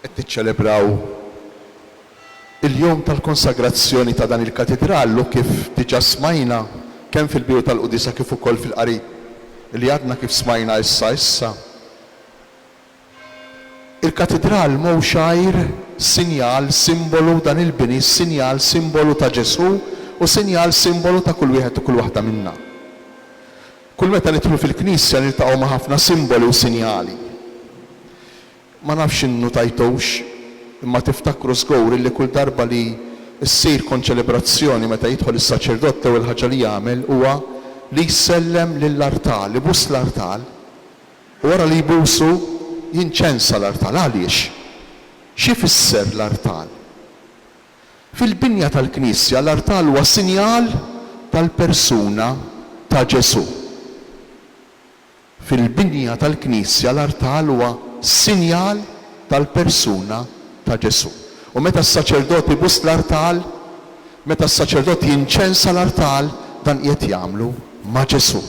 Qed niċċelebraw il-jum tal-konsagrazzjoni ta' dan il-Katidral u kif diġa smajna kemm fil-bidu tal-quddiesa kif ukoll fil-qari li għadna kif smajna issa issa, il-Katidral mhux għajr sinjal simbolu dan il-bini sinjal simbolu ta' Ġesù u sinjal simbolu ta' kull wieħed u kull waħda minna. Kull meta nidħlu fil-knisja niltaqgħu ma' ħafna simboli u sinjali. Ma nafx innutajtux, imma tiftakru żgur illi kull darba li ssir konċelebrazzjoni meta jidħol is-saċerdot l-ewwel ħaġa li jagħmel huwa li jsellem lill-artal, ibus l-artal u wara li jbusu jinċensa l-artal. Għaliex? X'ifisser l-artal? Fil-binja tal-knisja l-artal huwa sinjal tal-persuna ta' Ġesù. Fil-binja tal-knisja l-artal huwa sinjal tal-persuna ta' Ġesù. U meta s-saċerdot ibuss l-artal, meta s-saċerdot jinċensa l-artal, dan qiegħed jagħmlu ma' Ġesù.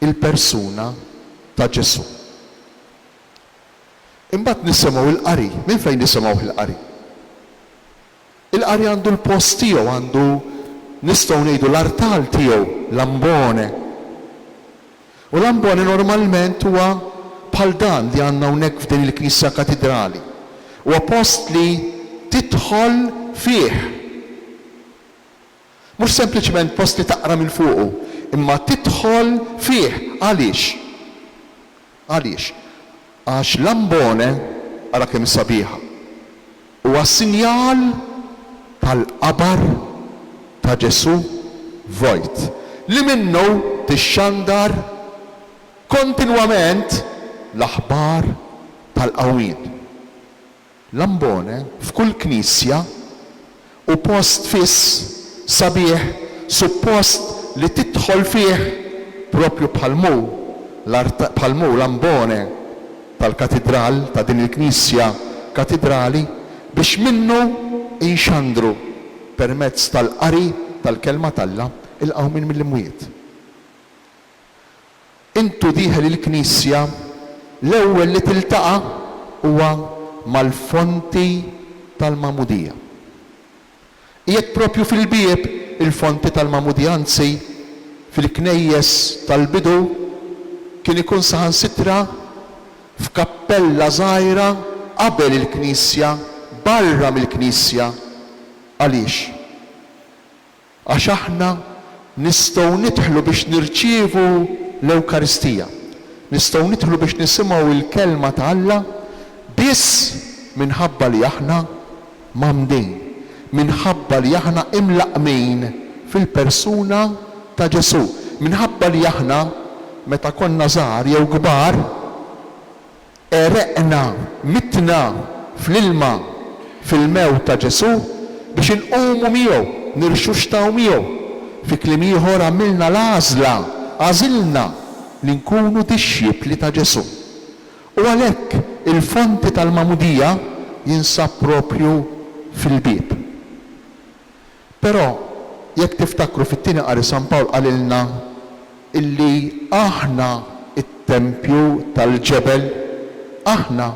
Il-persuna ta' Ġesù. Imbagħad nisimgħu l-qari. Minn fejn nisimgħuh il-qari? Il-qari għandu l-post tiegħu, għandu, nistgħu ngħidu, l-artal tiegħu, l-ambone. U l-ambone normalment huwa bħal dan li għandna hawnhekk f'din il-knisja katidrali. Huwa post li tidħol fih. Mhux sempliċement post li taqra minn fuqu, imma tidħol fih. Għaliex? Għaliex? Għax l-ambone, ara kemm hi sabiħa, huwa sinjal tal-qabar ta' Ġesù vojt, li minnu tixxandar kontinwament l-aħbar tal-qawmien. L-ambone f'kull knisja hu post fiss sabiħ suppost li tidħol fih proprju bħal m'hu bħal m'hu l-ambone tal-katidral ta' din il-knisja katidrali biex minnu inxandru permezz tal-qari tal-Kelma t'Alla il-qawmien mill-imwiet. Intu dieħel il-knisja, l-ewwel li tiltaqa' huwa mal-fonti tal-magħmudija. Qiegħed proprju fil-bieb il-fonti tal-magħmudija anzi, fil-knejjes tal-bidu kien ikun saħansitra f'kappella żgħira qabel il-knisja, barra mill-knisja. Għaliex? Għax aħna nistgħu nidħlu biex nirċievu l-Ewkaristija, nistgħu nidħlu biex nisimgħu l-Kelma ta' Alla biss minħabba li aħna mgħammdin, minħabba li aħna imlaqqmin fil-persuna ta' Ġesù, minħabba li aħna meta konna żgħar jew kbar, Għereqna, mitna fl-ilma, fil-mewt ta' Ġesù, biex inqumu miegħu, nirxuxtaw miegħu. Fi kliem ieħor, għamilna l-għażla, għażilna li nkunu dixxipli ta' Ġesù. U għalhekk il-fonti tal-magħmudija jinsab proprju fil-bieb. Però, jekk tiftakru fit-Tieni Qari San Pawl qalilna illi aħna t-tempju tal-ġebel. Aħna,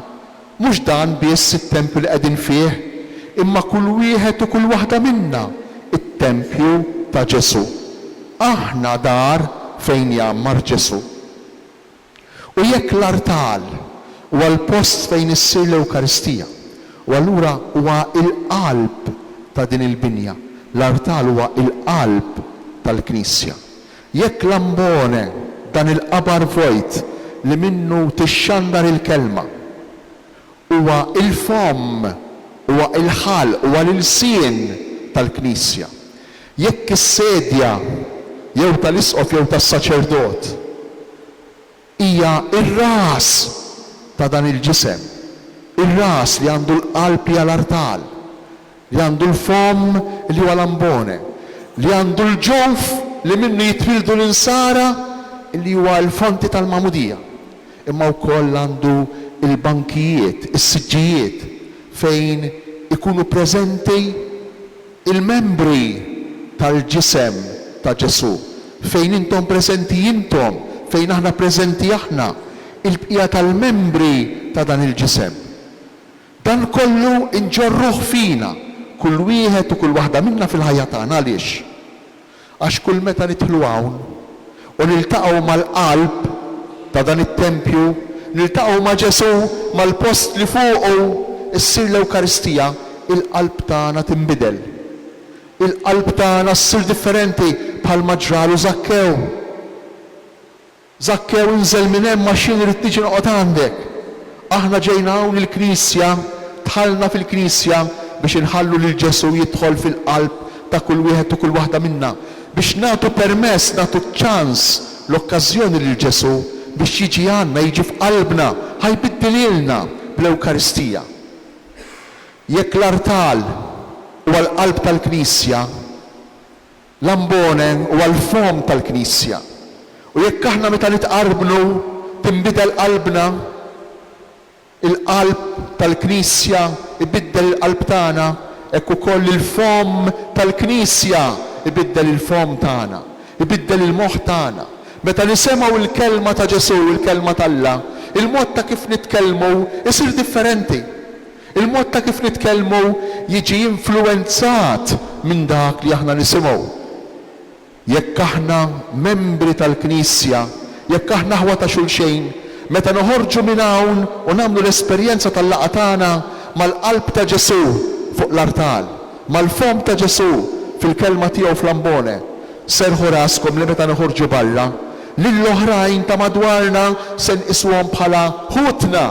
mhux dan biss it-tempju li qegħdin fih, imma kull wieħed u kull waħda minna t-tempju ta' Ġesù. Aħna dar fejn jgħammar Ġesù. U jekk l-artal huwa l-post fejn issir l-Ewkaristija, u allura huwa l-qalb ta' din il-binja, l-artal huwa l-qalb tal-Knisja. Jekk l-ambone, dan il-qabar vojt li minnu tixxandar il-Kelma, Huwa l-fomm, huwa l-ħalq, huwa l-ilsien tal-Knisja. Jekk is-sedja jew tal-isqof jew tas-saċerdot hija r-ras ta' dan il-ġisem, ir-ras li għandu l-qalb hija l-artal. li għandu l-fomm li huwa l-ambone, li għandu l-ġuf li minnu jitwieldu l-insara li huwa l-fonti tal-magħmudija, imma wkoll għandu l-bankijiet, is-siġġijiet fejn ikunu preżenti l-membri tal-ġisem ta' Ġesù, fejn intom preżenti intom, fejn aħna preżenti aħna, il-bqija tal-membri ta' dan il-ġisem. Dan kollu nġorruh fina, kull wieħed u kull waħda minna fil-ħajja tagħna. Għaliex? Għax kull meta nidħlu hawn u niltaqgħu mal-qalb ta' dan it-tempju, niltaqgħu ma' Ġesù, mal-post li fuqu ssir l-Ewkaristija, il-qalb tagħna tinbidel. Il-qalb tagħna ssir differenti bħalma ġralu Żakkew. Żakkew, inżel minn hemm għax jien irrid niġi noqgħod għandek. Aħna ġejna hawn il-Knisja, dħalna fil-Knisja biex inħallu lil Ġesù jidħol fil-qalb ta' kull wieħed u kull waħda minna, biex nagħtu permess, nagħtu ċ-ċans, l-okkażjoni lil Ġesù biex jiġi għandna, jiġi f'qalbna, ħa jbiddilhielna bl-Ewkaristija. Jekk l-artal huwa l-qalb tal-Knisja, L-ambone huwa l-fomm tal-Knisja, u jekk aħna meta nitqarbnu tinbidel qalbna, il-qalb tal-Knisja jbiddel il-qalb tagħna, hekk ukoll il-fomm tal-Knisja jbiddel il-fomm tagħna, jbiddel il-moħħ tagħna. Meta nisemgħu l-kelma ta' Ġesù, il-kelma t'Alla, il-mod ta' kif nitkellmu jsir differenti. Il-mod ta' kif nitkellmu jiġi influwenzat minn dak li aħna nisimgħu. Jekk aħna membri tal-Knisja, jekk aħna aħwa ta' xulxejn, meta noħorġu minn hawn u nagħmlu l-esperjenza tal-laqgħa tagħna mal-qalb ta' Ġesù fuq l-artal, mal-fomm ta' Ġesù fil-kelma tiegħu fl-ambone, serrħu raskom li meta noħorġu barra, lill-oħrajn ta' madwarna se nqisuhom bħala ħutna.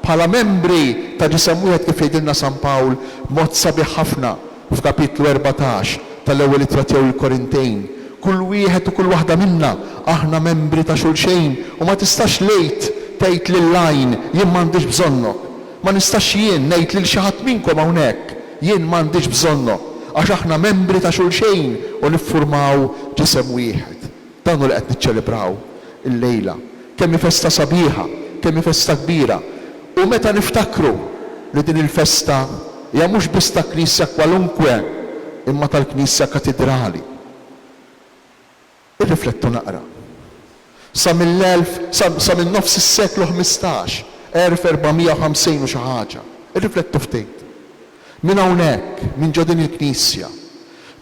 Bħala membri ta' ġisem wieħed kif jgħidilna San Pawl b'mod sabiħ ħafna f'Kapitlu erbatax tal-Ewwel Ittra tiegħu lill-Korintejn, kull wieħed u kull waħda minna aħna membri ta' xulxejn u ma tistax l-id tgħid lill-għajn jien m'għandix bżonnok. Ma nistax jien ngħid lil xi ħadd minnkom hawn hekk jien m'għandix bżonnok għax aħna membri ta' xulxejn u niffurmaw ġisem wieħed. Dan hu li qed niċċelebraw illejla. Kemm hi festa sabiħa, kemm hi festa kbira. U meta niftakru li din il-festa hija mhux biss ta' Knisja kwalunkwe imma tal-Knisja Katidrali. Irriflettu naqra. Sa mill-elf, sa, sa minn nofs is-seklu ħmistax, 1450 u xi ħaġa. Irriflettu ftit. Minn hawnhekk, minn ġo din il-Knisja,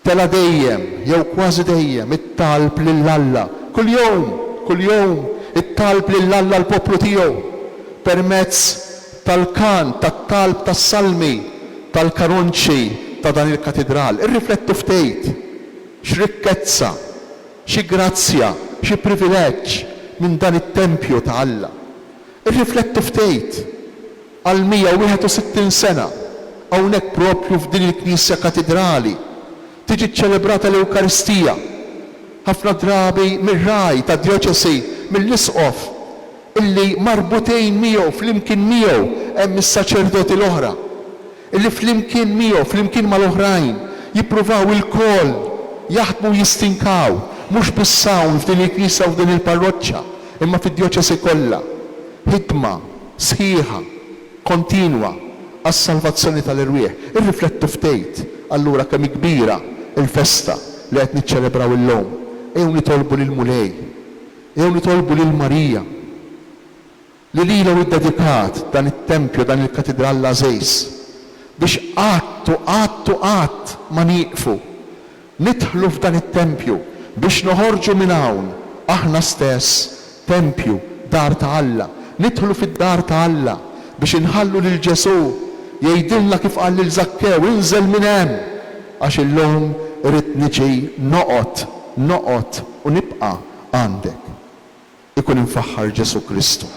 tela' dejjem, jew kważi dejjem, it-talb lil Alla. Kuljum, kuljum, it-talb lil Alla l-poplu tiegħu, permezz tal-kant, tat-talb tas-salmi, tal-karunċi ta' dan il-katidral. Irriflettu ftit, x'rikkezza, xi grazzja, xi privileġġ minn dan it-tempju ta' Alla! Irriflettu ftit! Għal 161 sena, hawnhekk proprju f'din il-Knisja Katidrali, tiġi ċċelebrata l-Ewkaristija, ħafna drabi mir-ragħaj tad-djoċesi, mill-isqof, illi marbutejn miegħu, flimkien miegħu, hemm is-saċerdoti l-oħra, illi flimkien miegħu, flimkien mal-oħrajn, jippruvaw ilkoll jaħdmu u jistinkaw, mhux biss hawn f'din il-knisja u f'din il-parroċċa, imma fid-djoċesi kollha. Ħidma. sħiħa, kontinwa, għas-salvazzjoni tal-erwieħ. Irriflettu ftit, allura, kemm hi kbira l-festa li qed niċċelebraw illum. Ejjew nitolbu lill-Mulej, ejjew nitolbu lil Marija, li lilha hu ddedikat dan it-tempju, dan il-Katidral l-għażiż, biex qatt u qatt u qatt ma nieqfu Nidħlu f'dan it-tempju biex noħorġu minn hawn, aħna stess, tempju, dar ta' Alla. Nidħlu fid-dar ta' Alla biex inħallu lil Ġesù jgħidilna kif qal lil Żakkew, Inżel minn hemm, għax illum irrid niġi noqgħod, noqgħod u nibqa' għandek. Ikun imfaħħar Ġesù Kristu.